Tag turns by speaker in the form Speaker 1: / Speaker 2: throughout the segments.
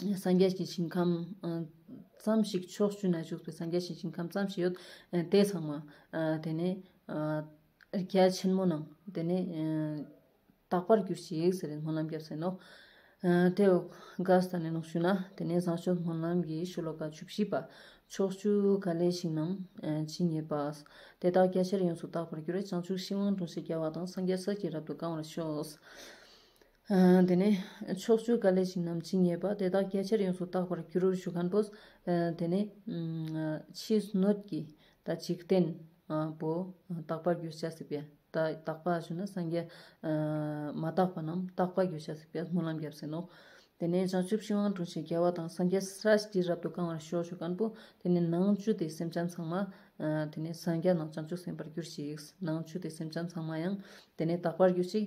Speaker 1: སངས་རྒྱས་ཀྱི་ཞིང་ཁམས་ཙམ་ཞིག་ཕྱོགས་བཅུ་ན་བཞུགས་པའི་སངས་རྒྱས་ཀྱི་ཞིང་ཁམས་ཙམ་ཞིག་ཡོད་དེ་ཚང་མ་དེ་ནས་རྒྱལ་ཆེན་མོ་རྣམས་དེ་ནས་དག་པར་གྱུར་ཅིག་ཟེར་བའི་སྨོན་ལམ་བརྒྱབ་ཟིན་ནོ། དེ་འོག་དགའ་བསྟན་ལས་ལོག་ཞུས་ན་དེ་ནས་བཟང་སྤྱོད་སྨོན་ལམ་གྱི་ཤོ་ལོ་ཀ་བཅུ་བཞི་པ། ཕྱོགས་བཅུ་ག་ལས་ཞིང་རྣམས་ཇི་སྙེད་པ། དེ་དག་རྒྱ་ཆེར་ཡོངས་སུ་དག་པར་གྱུར་བས་བྱང་ཆུབ་ཤིང་དབང་དྲུང་ཆེ་རྒྱལ་བ་དང་སངས་རྒྱས་ཟིལ་གྱིས་རབ་ཏུ་བཀང་བར་ཤོག། དེ་ནས་ཕྱོགས་བཅུའི་བཀའ་ལས་ཞིང་རྣམས་ཇི་སྙེད་པ་དེ་དག་སྐད་ཆར་ཡོངས་སུ་བརྟག་པར་འགྱུར་ཞུ་ཁན་པོས། དེ་ནས་ཕྱིས་སྣོད་ཀྱི་དང་འཇིག་རྟེན་པོ་རྟག་པར་འགྱུར་བྱ་སྲིད་པས་རྟག་པ་ཞུ་ན་སངས་རྒྱས། མ་རྟག་པ་རྣམས་རྟག་པར་འགྱུར་བྱ་སྲིད་པས་སྨོན་ལམ་བརྒྱབ་ཟིན་ནོ། དེ་ནས་བྱང་ཆུབ་ཤིང་དབང་དྲུང་ཞེས་རྒྱལ་བ་དང་སངས་རྒྱས་ས་བཞི་རབ་ཏུ་བཀང་བར་ཤོག་ཞུ་ཁན་པོས། དེ་ནས་ནང་བཅུད་དེ་སེམས་ཅན་ཚང་མ། དེ་ནས་སངས་རྒྱས་རྣམས་བྱང་ཆུབ་སེམས་དཔར་གྱུར་ཅིག། ནང་བཅུད་དེ་སེམས་ཅན་ཚང་མ་ཡང། དེ་ནས་རྟག་པར་གྱུར་ཅིག།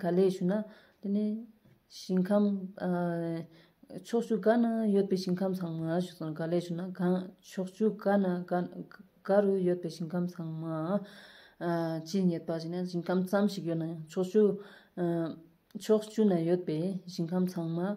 Speaker 1: ག་ལེར་ཞུ་ན། དེ་ནི། ཞིང་ཁམས། ཕྱོགས་བཅུ་ག་ན་ཡོད་པའི་ཞིང་ཁམས་ཚང་མ་ཞུ་སོང་ག་ལེར་ཞུ་ན། ཕྱོགས་བཅུ་ག་ན་ག་རུ་ཡོད་པའི་ཞིང་ཁམས་ཚང་མ། ཇི་སྙེད་པ་ཞེ་ན་ཞིང་ཁམས་ཙམ་ཞིག་ཡོད་ན་ཡང་ཕྱོགས་བཅུ། ཕྱོགས་བཅུ་ན་ཡོད་པའི་ཞིང་ཁམས་ཚང་མ།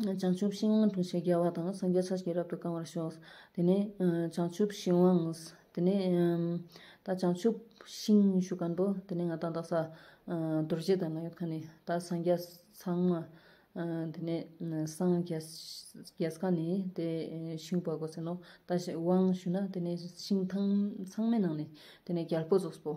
Speaker 1: བྱང་ཆུབ་ཤིང་དབང་འཕྲོག་བྱེད་རྒྱལ་བ་དང་སངས་རྒྱས་ཚར་གཅིག་རབ་ཏུ་བསྐང་བར་ཤོག། དེ་ནས་བྱང་ཆུབ་ཤིང་དབང། དེ་ནས་ད་བྱང་ཆུབ་ཤིང་ཞུ་ག་འདོད། དེ་ནས་ང་དང་དག་ས། རྡོ་རྗེ་དང་ང་ཡོད་མཁན་ནི་ད་སངས་རྒྱས་ཚང་མ། དེ་ནས་སངས་རྒྱས་གང་ནས་དེ་ཤིང་བར་གོ་ཟེར་ནོ། ད་དབང་ཞུ་ན་དེ་ནས་ཤིང་ཚང་མའི་ནང་ནས་དེ་ནས་རྒྱལ་པོ་རྫོགས་པོ།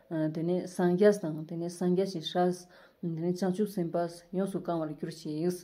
Speaker 1: དེ་ནས་སངས་རྒྱས་དང། དེ་ནས་སངས་རྒྱས་ཀྱི་ཞབས། དེ་ནས་བྱང་ཆུབ་སེམས་དཔའ། ཡོངས་སུ་བསྐང་བར་གྱུར་ཅིག།